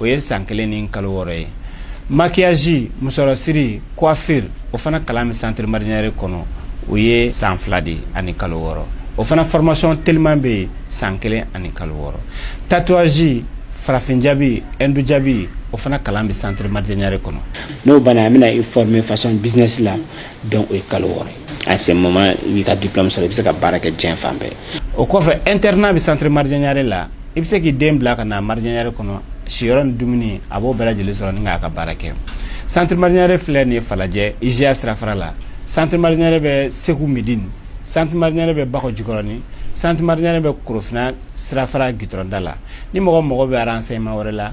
o ye san kelen ni kalo wɔɔrɔ ye maquillage musɔrɔsiri coiffure o fana kalan bɛ centre marjanyare kɔnɔ o ye san fila de ani kalo wɔɔrɔ o fana formation teliman bɛ yen san kelen ani kalo wɔɔrɔ tatouage farafin jabi hindu jabi o fana kalan bɛ centre marjanyare kɔnɔ n'o banna an bɛna i former façon business la donc o ye kalo wɔɔrɔ ye à ce moment i b'i ka diplôme sɔrɔ i bɛ se ka baara kɛ diɲɛ fan bɛɛ o kɔfɛ internat bɛ centre marjanyare la i bɛ se k'i den bila ka na marjanyare kɔnɔ siyɔrɔ ni dumuni a b'o bɛɛ lajɛlen sɔrɔ ni k'a ka baara kɛ centre marjanyare filɛ nin ye falajɛ IJA sirafara la centre marjanyare bɛ segu midini centre marjanyare bɛ bakɔ jikɔrɔni centre marjanyare bɛ korofina sirafara gitɔrɔnda la ni mɔgɔ mago bɛ renseignement wɛrɛ la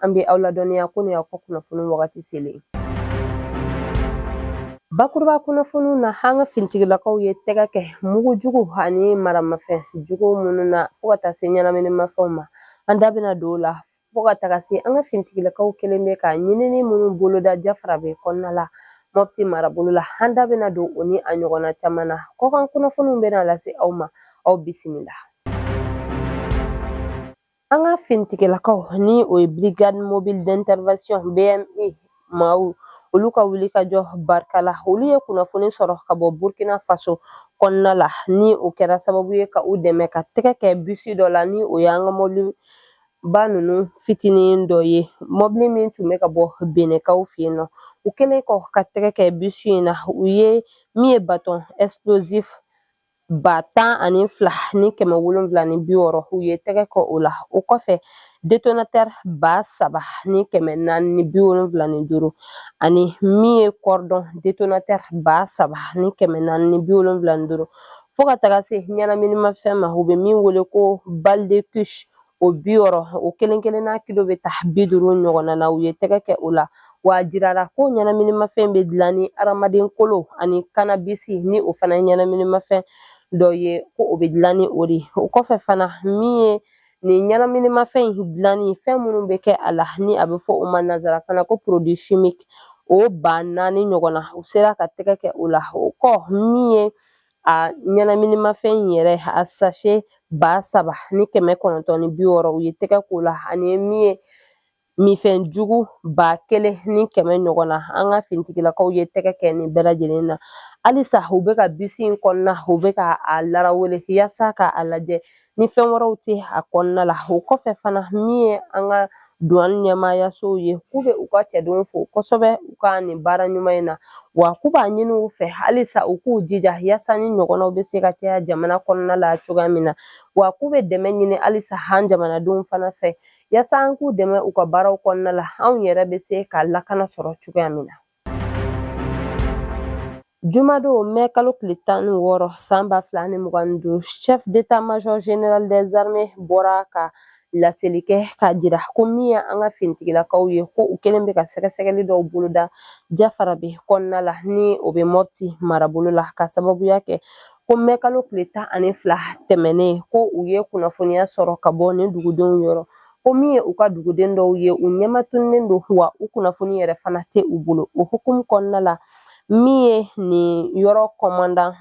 an bɛ aw ladɔnniya ko nin ye aw ka kunnafoni wagati selen bakuruba kunnafoniw na an ka finitigilakaw ye tɛgɛ kɛ mugu jugu ani maramafɛn jugu minnu na fo ka taa se ɲɛnaminimafɛnw ma an da bɛna don o la fo ka taga se an ka finitigilakaw kɛlen bɛ ka ɲinini minnu boloda jafarabɛ kɔnɔna la mɔpti marabolo la an da bɛna don o ni a ɲɔgɔnna caman na kɔkan kunnafoniw bɛna lase aw ma aw bisimila An ka finitigilakaw ni o ye Brigade mobile d'intervention BMI maaw olu ka wulikajɔ barika la olu ye kunnafoni sɔrɔ ka bɔ Burkina Faso kɔnɔna la ni o kɛra sababu ye ka u dɛmɛ ka tɛgɛ kɛ bisi dɔ la ni o ye an ka mɔbiliba ninnu fitinin dɔ ye mɔbili min tun bɛ ka bɔ benɛnkaw fɛ yen nɔ u kɛlen kɔ ka tɛgɛ kɛ bisi in na u ye min ye bâton explosif ba tan ani fila ni kɛmɛ wolonwula ni bi wɔɔrɔ u ye tɛgɛ kɛ o la o kɔfɛ détonateur ba saba ni kɛmɛ naani ni bi wolonwula ni duuru ani min ye cordon détonateur ba saba ni kɛmɛ naani ni bi wolonwula ni duuru fo ka taga se ɲɛnaminimafɛn ma u bɛ min wele ko balle de kush o bi wɔɔrɔ o kelen kelenna kilo bɛ taa bi duuru ɲɔgɔnna na u ye tɛgɛ kɛ o la wa a jirara ko ɲɛnaminimafɛn bɛ dilan ni adamaden kolo ani cannabis ni o fana ye ɲɛnaminimafɛn dɔ ye ko o bɛ dilan ni o de ye o kɔfɛ fana min ye nin ɲɛnaminimafɛn in dilanni fɛn minnu bɛ kɛ a la ni a bɛ fɔ o ma nanzarakan na ko produit chimique o ba naani ɲɔgɔn na u sera ka tɛgɛ kɛ o la o kɔ min ye a ɲɛnaminimafɛn in yɛrɛ a sachet ba saba ni kɛmɛ kɔnɔntɔn ni bi wɔɔrɔ u ye tɛgɛ k'o la ani min ye minfɛn jugu ba kelen ni kɛmɛ ɲɔgɔn na an ka finitigilakaw ye tɛgɛ kɛ nin bɛɛ lajɛlen na halisa u bɛ ka bisi in kɔnɔna u bɛ ka a larawele yasa ka a lajɛ ni fɛn wɛrɛw tɛ a kɔnɔna la o kɔfɛ fana min ye an ka duwan ɲɛmaayasow ye k'u bɛ u ka cɛdenw fo kosɛbɛ u ka nin baara ɲuman in na wa k'u b'a ɲini u fɛ halisa u k'u jija yaasa nin ɲɔgɔnnaw bɛ se ka caya jamana kɔnɔna la cogoya min na wa k'u bɛ dɛmɛ ɲini halisa an jamanadenw fana fɛ yaasa an k'u dɛmɛ u ka baaraw kɔnɔna la anw yɛrɛ bɛ se ka lakana sɔrɔ cogoya min na Jumadon mɛ kalo tile tan ni wɔɔrɔ san ba fila ni mugan ni duuru chef d'état major général des armées bɔra ka laseli kɛ k'a jira ko min ye an ka finitigilakaw ye ko u kɛlen bɛ ka sɛgɛsɛgɛli dɔw boloda jafarabɛ kɔnɔna la ni o bɛ mɔpti marabolo la ka sababuya kɛ ko mɛkalo tile tan ani fila tɛmɛnen ko u ye kunnafoniya sɔrɔ ka bɔ nin dugudenw yɔrɔ ko min ye u ka duguden dɔw ye u ɲɛmatunnen don wa u kunnafoni yɛrɛ fana tɛ u bolo o hukumu kɔnɔna la min ye nin yɔrɔ kɔmandan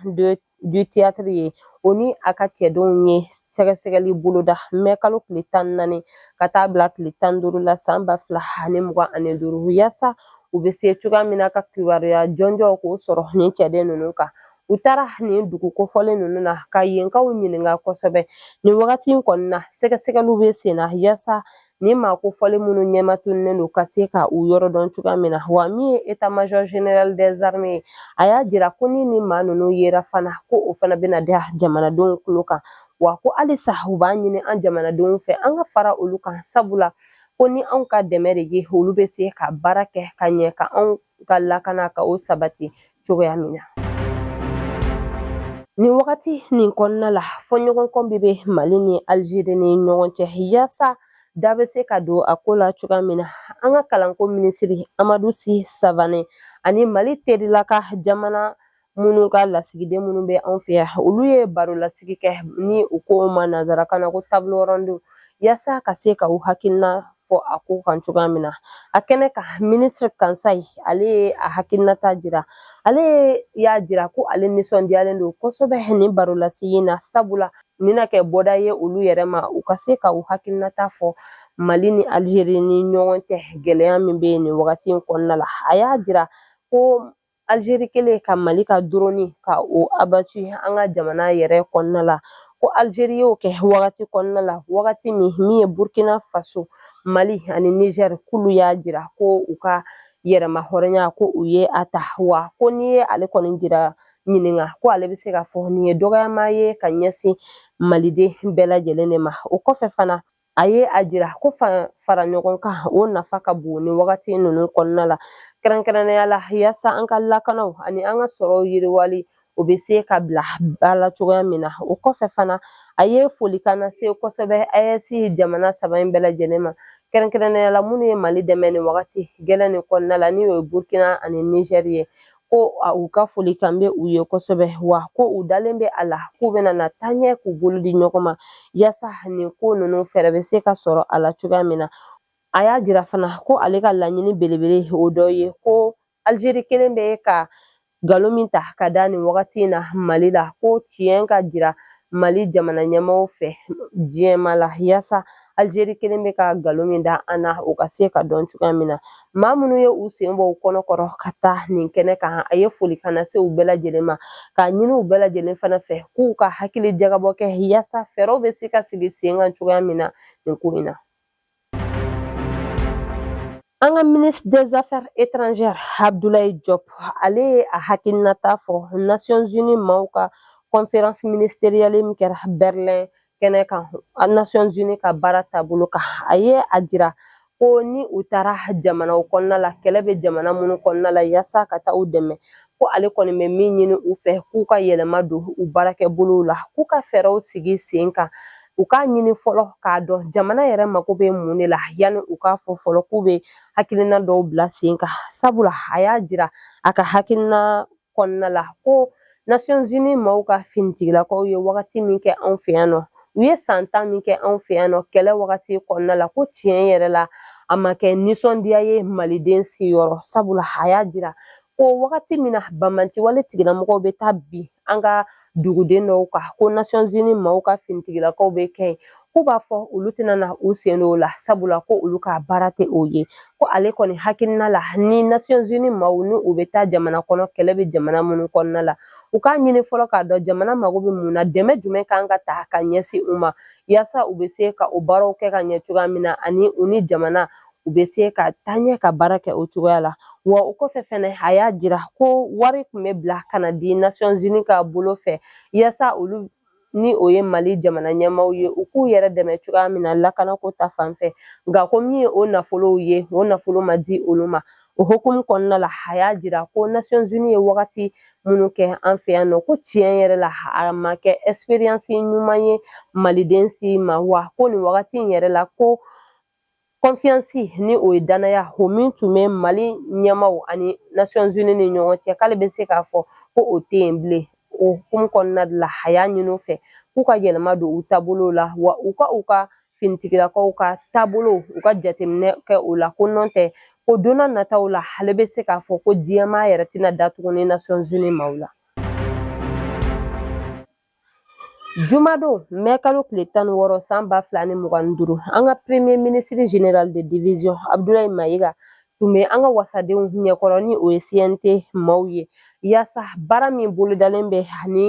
du théâtre ye o ni a ka cɛdenw ye sɛgɛsɛgɛli boloda mɛ kalo tile tan naani ka taa bila tile tan duuru la san ba fila ani mugan ani duuru yaasa u bɛ se cogoya min na ka kibaruya jɔnjɔnw k'o sɔrɔ nin cɛden ninnu kan u taara nin dugu kofɔlen ninnu na ka yenkaw ɲininka kosɛbɛ nin wagati in kɔni na sɛgɛsɛgɛliw bɛ sen na yaasa nin maa kofɔlen minnu ɲɛmatunnen don ka se ka u yɔrɔ dɔn cogoya min na wa min ye etat major general des armées ye a y'a jira ko ni nin maa ninnu yera fana ko o fana bɛna da jamanadenw tulo kan wa ko halisa u b'a ɲini an jamanadenw fɛ an ka fara olu kan sabula ko ni anw ka dɛmɛ de ye olu bɛ se ka baara kɛ ka ɲɛ ka anw ka lakana ka o sabati cogoya min na nin wagati nin kɔnɔna la fɔɲɔgɔnkɔ min bɛ mali ni alizeri ni ɲɔgɔn cɛ yaasa da bɛ se ka don a ko la cogoya min na an ka kalanko minisiri amadu si savane ani mali terilaka jamana minnu ka lasigiden minnu bɛ anw fɛ yan olu ye barolasigi kɛ ni u k'o ma nanzarakan na ko table ronde yaasa ka se ka u hakilina fɔ a ko kan cogoya min na a kɛnɛ kan minisiri kansayi ale ye a hakilinata jira ale y'a jira ko ale nisɔndiyalen don kosɛbɛ nin barolasigi na sabula nin na kɛ bɔda ye olu yɛrɛ ma u ka se ka u hakilinata fɔ mali ni alizeri ni ɲɔgɔn cɛ gɛlɛya min bɛ yen nin wagati in kɔnɔna la a y'a jira ko Alizeri kɛlen ka Mali ka drone ka o abattu an ka jamana yɛrɛ kɔnɔna la, ko Alizeri y'o kɛ wagati kɔnɔna la, wagati min min ye Burkina Faso, Mali ani Niger k'olu y'a jira ko u ka yɛrɛmahɔrɔnya ko u ye a ta, wa ko n'i ye ale kɔni jira ɲininka ko ale bɛ se ka fɔ nin ye dɔgɔyama ye ka ɲɛsin Maliden bɛɛ lajɛlen de ma. O kɔfɛ fana, a ye a jira ko fara ɲɔgɔn kan o nafa ka bon nin wagati ninnu kɔnɔna la kɛrɛnkɛrɛnnenya la yaasa an ka lakanaw ani an ka sɔrɔw yiriwali o bɛ se ka bila ba la cogoya min na o kɔfɛ fana a ye folikan lase kosɛbɛ ayɛsi jamana saba in bɛɛ lajɛlen ma kɛrɛnkɛrɛnnenya la minnu ye mali dɛmɛ nin wagati gɛlɛn nin kɔnɔna la ni o ye burkina ani nizɛri ye ko u ka folikan bɛ u ye kosɛbɛ wa ko u dalen bɛ a la k'u bɛna na taaɲɛ k'u bolo di ɲɔgɔn ma yaasa nin ko ninnu fɛɛrɛ bɛ se ka sɔrɔ a la cogoya min na a y'a jira fana ko ale ka laɲini belebele o dɔ ye ko alizeri kelen bɛ ka nkalon min ta ka da nin wagati in na mali la ko tiɲɛ ka jira Mali jamana ɲɛmaaw fɛ diɲɛ maa la yaasa Algérie kelen bɛ ka nkalon min da an na o ka se ka dɔn cogoya min na maa minnu ye u sen bɔ u kɔnɔ kɔrɔ ka taa nin kɛnɛ kan a ye folikan lase u bɛɛ lajɛlen ma k'a ɲini u bɛɛ lajɛlen fana fɛ k'u ka hakili jagabɔ kɛ yaasa fɛɛrɛw bɛ se ka sigi sen kan cogoya min na nin ko in na An ka ministre des affaires étrangères Abdoulaye Diop ale ye a hakilinata fɔ Nations Unies maaw ka conférence ministérielle min kɛra Berlin kɛnɛ kan Nations Unies ka baara taabolo kan a ye a jira ko ni u taara jamanaw kɔnɔna la kɛlɛ bɛ jamana minnu kɔnɔna la yaasa ka taa u dɛmɛ ko ale kɔni bɛ min ɲini u fɛ k'u ka yɛlɛma don u baarakɛbolow la k'u ka fɛɛrɛw sigi sen kan u k'a ɲini fɔlɔ k'a dɔn jamana yɛrɛ mako bɛ mun de la yanni u k'a fɔ fɔlɔ k'u bɛ hakilina dɔw bila sen kan sabula a y'a jira a ka hakilina kɔnɔna la ko Nations Unies maaw ka finitigilakaw ye wagati min kɛ anw fɛ yan nɔ u ye san tan min kɛ anw fɛ yan nɔ kɛlɛ wagati kɔnɔna la ko tiɲɛ yɛrɛ la a ma kɛ nisɔndiya ye maliden si yɔrɔ sabula a y'a jira ko wagati min na banbaanci wale tigilamɔgɔw bɛ taa bin an ka duguden dɔw kan ko nasɔnzini maaw ka finitigilakaw bɛ kɛ yen k'u b'a fɔ olu tɛna na u sen don o la sabula ko olu ka baara tɛ o ye ko ale kɔni hakilina la ni nasɔnzini maaw ni u bɛ taa jamana kɔnɔ kɛlɛ bɛ jamana minnu kɔnɔna la u k'a ɲini fɔlɔ k'a dɔn jamana mago bɛ mun na dɛmɛ jumɛn kan ka ta ka ɲɛsin u ma yaasa u bɛ se ka o baaraw kɛ ka ɲɛ cogoya min na ani u ni jamana u bɛ se ka taa ɲɛ ka baara kɛ o cogoya la wa o kɔfɛ fɛnɛ a y'a jira ko wari tun bɛ bila ka na di nasɔnzini ka bolo fɛ yaasa olu ni o ye mali jamana ɲɛmaaw ye u k'u yɛrɛ dɛmɛ cogoya min na lakanako ta fan fɛ nka ko min ye o nafolow ye o nafolo ma di olu ma o hukumu kɔnɔna la a y'a jira ko nasɔnzini ye wagati minnu kɛ an fɛ yan nɔ ko tiɲɛ yɛrɛ la a ma kɛ expérience ɲuman ye maliden si ma wa ko nin wagati in yɛrɛ la ko confiance ni o ye danaya o min tun bɛ mali ɲɛmaaw ani nations unies ni ɲɔgɔn cɛ k'ale bɛ se k'a fɔ ko o tɛ yen bilen o hukumu kɔnɔna la a y'a ɲini u fɛ k'u ka yɛlɛma don u taabolo la wa u ka u ka finitigilakaw ka taabolo u ka jateminɛ kɛ o la ko nɔn tɛ ko donna nataw la ale bɛ se k'a fɔ ko diɲɛmaa yɛrɛ tɛna da tuguni nations unies maaw la Jumadon mɛ kalo tile tan ni wɔɔrɔ san ba fila ni mugan ni duuru an ka premier ministre général de division Abdoulaye Mayiga tun bɛ an ka wasadenw ɲɛkɔrɔ ni o ye CNT maaw ye yaasa baara min bolodalen bɛ ani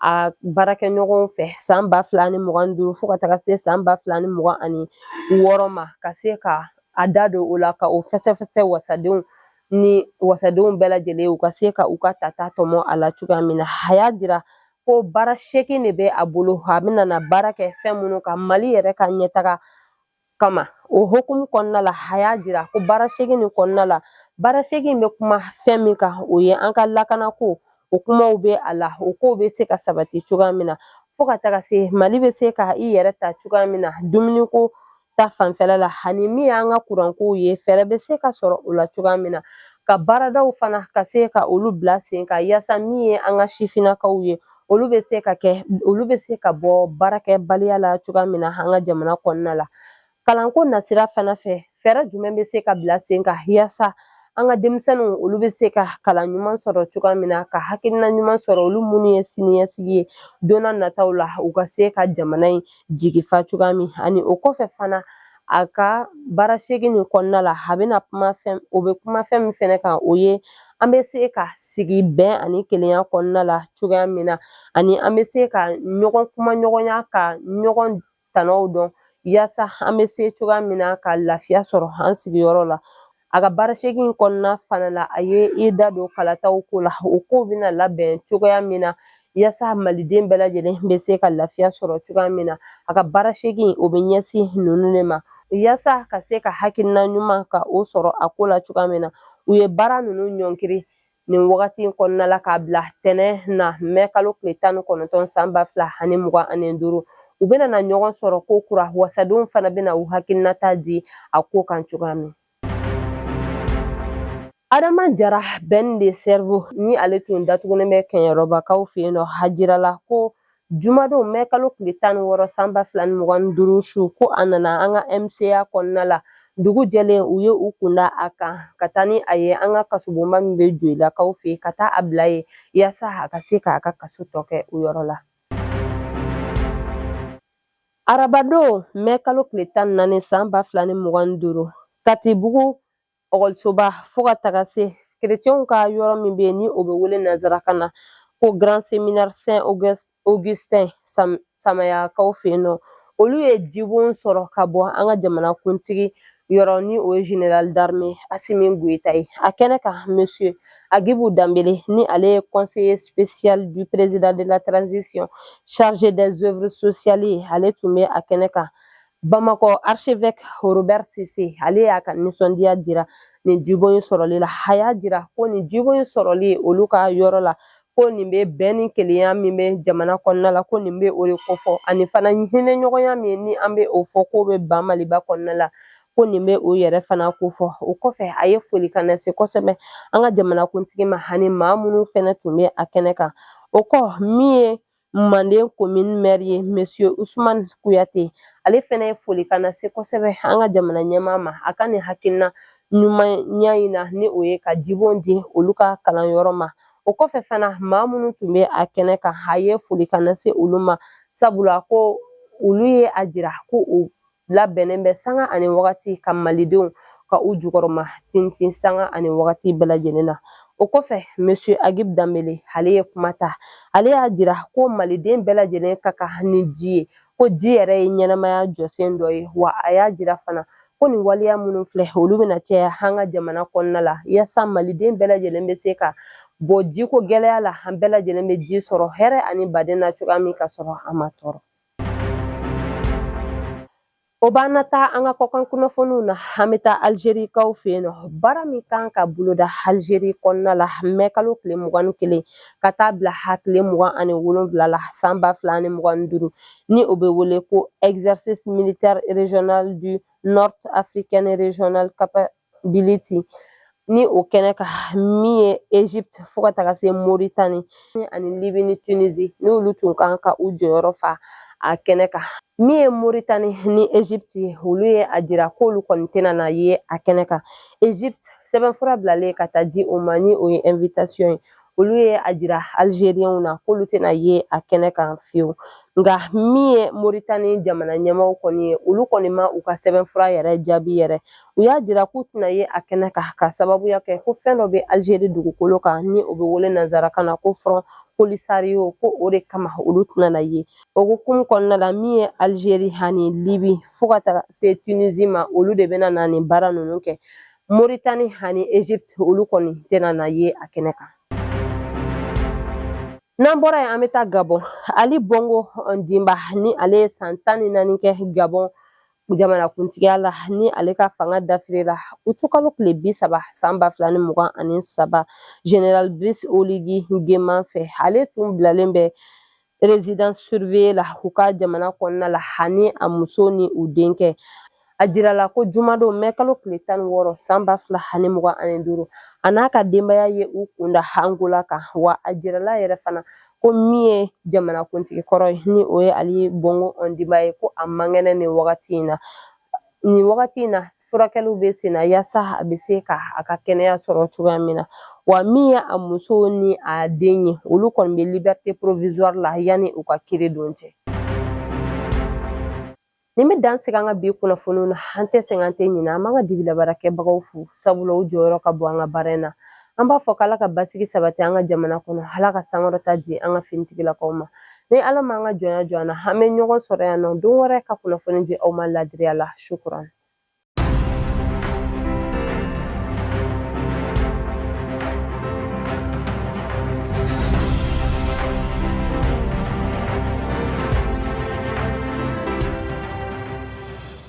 a baarakɛɲɔgɔnw fɛ san ba fila ni mugan duuru fo ka taga se san ba fila ni mugan ani wɔɔrɔ ma ka se ka a da don o la ka o fɛsɛfɛsɛ wasadenw ni wasadenw bɛɛ lajɛlen u ka se ka u ka tata tɔmɔ a la cogoya min na a y'a jira ko baara seegin de bɛ a bolo a bɛna na baara kɛ fɛn minnu kan mali yɛrɛ ka ɲɛtaga kama o hukumu kɔnɔna la a y'a jira ko baara seegin nin kɔnɔna la baara seegin bɛ kuma fɛn min kan o ye an ka lakanako o kumaw bɛ a la o kow bɛ se ka sabati cogoya min na fo ka taga se mali bɛ se ka i yɛrɛ ta cogoya min na dumuniko ta fanfɛla la ani min y'an ka kurankow ye fɛɛrɛ bɛ se ka sɔrɔ o la cogoya min na ka baaradaw fana ka se ka olu bila sen kan yaasa min ye an ka sifinnakaw ye olu bɛ se ka kɛ olu bɛ se ka bɔ baarakɛbaliya la cogoya min na an ka jamana kɔnɔna la kalanko nasira fana fɛ fɛɛrɛ jumɛn bɛ se ka bila sen kan yaasa an ka denmisɛnninw olu bɛ se ka kalan ɲuman sɔrɔ cogoya min na ka hakilina ɲuman sɔrɔ olu minnu ye siniɲɛsigi ye donna nataw la u ka se ka jamana in jigi fa cogoya min ani o kɔfɛ fana a ka baara seegin nin kɔnɔna la a bɛna kuma fɛn o bɛ kuma fɛn min fɛnɛ kan o ye an bɛ se ka sigi bɛn ani kelenya kɔnɔna la cogoya min na ani an bɛ se ka ɲɔgɔn kumaɲɔgɔnya ka ɲɔgɔn tanaw dɔn yaasa an bɛ se cogoya min na ka lafiya sɔrɔ an sigiyɔrɔ la A ka baara seegin in kɔnɔna fana la a ye i da don kalataw ko la o kow bɛna labɛn cogoya min na yasa maliden bɛɛ lajɛlen bɛ se ka lafiya sɔrɔ cogoya min na a ka baara seegin o bɛ ɲɛsin ninnu de ma yasa ka se ka hakilina ɲuman ka o sɔrɔ a ko la cogoya min na u ye baara ninnu ɲɔnkiri nin wagati in kɔnɔna la k'a bila tɛnɛn na mɛ kalo tile tan ni kɔnɔntɔn san ba fila ani mugan ani duuru u bɛna na ɲɔgɔn sɔrɔ kokura wasadenw fana bɛna u hakilinata di a ko kan cogoya min adama jara ben le cerveau ni ale tun datugunen bɛ kɛɲɛrɔbakaw fɛ yen nɔ a jirala ko Jumadon mɛ kalo tile tan ni wɔɔrɔ san ba fila ni mugan ni duuru su ko a nana an ka MCA kɔnɔna la dugu jɛlen u ye u kunda a kan ka taa ni a ye an ka kasobonba min bɛ Joyilakaw fɛ yen ka taa a bila yen yaasa a ka se k'a ka kaso tɔ kɛ o yɔrɔ la. Arabadon mɛ kalo tile tan ni naani san ba fila ni mugan ni duuru Katibugu ekɔlisoba fo ka taga se kerecɛnw ka yɔrɔ min bɛ yen ni o bɛ wele nanzarakan na ko grand séminaire saint augustin samayakaw fɛ yen nɔ olu ye jibon sɔrɔ ka bɔ an ka jamanakuntigi yɔrɔ ni o ye général d'armée asimi goyita ye a kɛnɛ kan monsieur agibu danbele ni ale ye conseiller spécial du président de la transition chargé des œuvres sociales ye ale tun bɛ a kɛnɛ kan bamakɔ archevêque robert sise ale y'a ka nisɔndiya jira nin jibon in sɔrɔli la a y'a jira ko nin jibon in sɔrɔli olu ka yɔrɔ la ko nin bɛ bɛn ni kelenya min bɛ jamana kɔnɔna la ko nin bɛ o de kofɔ ani fana hinɛɲɔgɔnya min ni an bɛ o fɔ k'o bɛ ba maliba kɔnɔna la ko nin bɛ o yɛrɛ fana kofɔ o kɔfɛ a ye foli ka na se kosɛbɛ an ka jamanakuntigi ma ani maa minnu fɛnɛ tun bɛ a kɛnɛ kan o kɔ min ye manden komin mɛri ye monsieur usman kuyate ale fɛnɛ ye foli ka na se kosɛbɛ an ka jamana ɲɛmaa ma a ka nin hakilina ɲumanya in na ni o ye ka jibon di olu ka kalanyɔrɔ ma o kɔfɛ fana maa minnu tun bɛ a kɛnɛ kan a ye foli ka na se olu ma sabula ko olu ye a jira ko u labɛnnen bɛ sanga ani wagati ka malidenw ka u jukɔrɔma tintin sanga ani wagati bɛɛ lajɛlen na o kɔfɛ monsieur agib danbele ale ye kuma ta ale y'a jira ko maliden bɛɛ lajɛlen ka kan ni ji ye ko ji yɛrɛ ye ɲɛnamaya jɔsen dɔ ye wa a y'a jira fana ko nin waleya minnu filɛ olu bɛna caya an ka jamana kɔnɔna la yaasa maliden bɛɛ lajɛlen bɛ se ka bɔ jiko gɛlɛya la an bɛɛ lajɛlen bɛ ji sɔrɔ hɛrɛ ani baden na cogoya min ka sɔrɔ an ma tɔɔrɔ O b'an na taa an ka kɔkan kunnafoniw na an bɛ taa alizerikaw fɛ yen nɔ baara min kan ka boloda alizeri kɔnɔna la mɛ kalo tile mugan ni kelen ka taa bila a tile mugan ani wolonwula la san ba fila ani mugan ni duuru ni o bɛ wele ko exercice militaire régional du north african regional bility ni o kɛnɛ kan min ye egypte fo ka taga se moritani ani libi ni tunisi n'olu tun kan ka u jɔyɔrɔ fa a kɛnɛ kan min ye moritani ni egypte ye olu ye a jira k'olu kɔni tɛna na ye a kɛnɛ kan egypte sɛbɛnfura bilalen ka taa di o ma ni o ye invitation ye olu ye a jira alizeriɲɛw na k'olu tɛna ye a kɛnɛ kan fiyewu nka min ye moritani jamana ɲɛmaaw kɔni ye olu kɔni ma u ka sɛbɛnfura yɛrɛ jaabi yɛrɛ u y'a jira k'u tɛna ye a kɛnɛ kan ka sababuya kɛ ko fɛn dɔ bɛ alizeri dugukolo kan ni o bɛ wele nanzarakan na ko front polisario ko o de kama olu tɛna na ye o hukumu kɔnɔna la min ye alizeri ani libi fo ka taa se tunisi ma olu de bɛna na nin baara ninnu kɛ moritani ani egypte olu kɔni tɛna na ye a kɛnɛ kan n'an bɔra yen an bɛ taa gabɔn ali bongo ondimba ni ale ye san tan ni naani kɛ gabɔn jamanakuntigiya la ni ale ka fanga dafirila utukalo tile bi saba san ba fila ni mugan ani saba général brice oligui nguema fɛ ale tun bilalen bɛ résidence surveillée la u ka jamana kɔnɔna la hani a muso ni u denkɛ a jirala ko jumadon mɛkalo tile tan ni wɔɔrɔ san ba fila ani mugan ani duuru a n'a ka denbaya ye u kunda angola kan wa a jirala yɛrɛ fana ko min ye jamanakuntigi kɔrɔ ye ni o ye ali bongo ondimba ye ko a man kɛnɛ nin wagati in na nin wagati in na furakɛliw bɛ sen na yaasa a bɛ se ka a ka kɛnɛya sɔrɔ cogoya min na wa min ye a muso ni a den ye olu kɔni bɛ liberté provisoire la yanni u ka kiiri don cɛ nin bɛ dan sigi an ka bi kunnafoniw na an tɛ sɛgɛn an tɛ ɲinɛ an b'an ka dibilabaarakɛbagaw fo sabula u jɔyɔrɔ ka bon an ka baara in na an b'a fɔ k'ala ka basigi sabati an ka jamana kɔnɔ ala ka sankɔrɔta di an ka finitigilakaw ma ni ala m'an ka jɔnya jɔ an na an bɛ ɲɔgɔn sɔrɔ yan nɔ don wɛrɛ ka kunnafoni di aw ma ladiriya la sukuran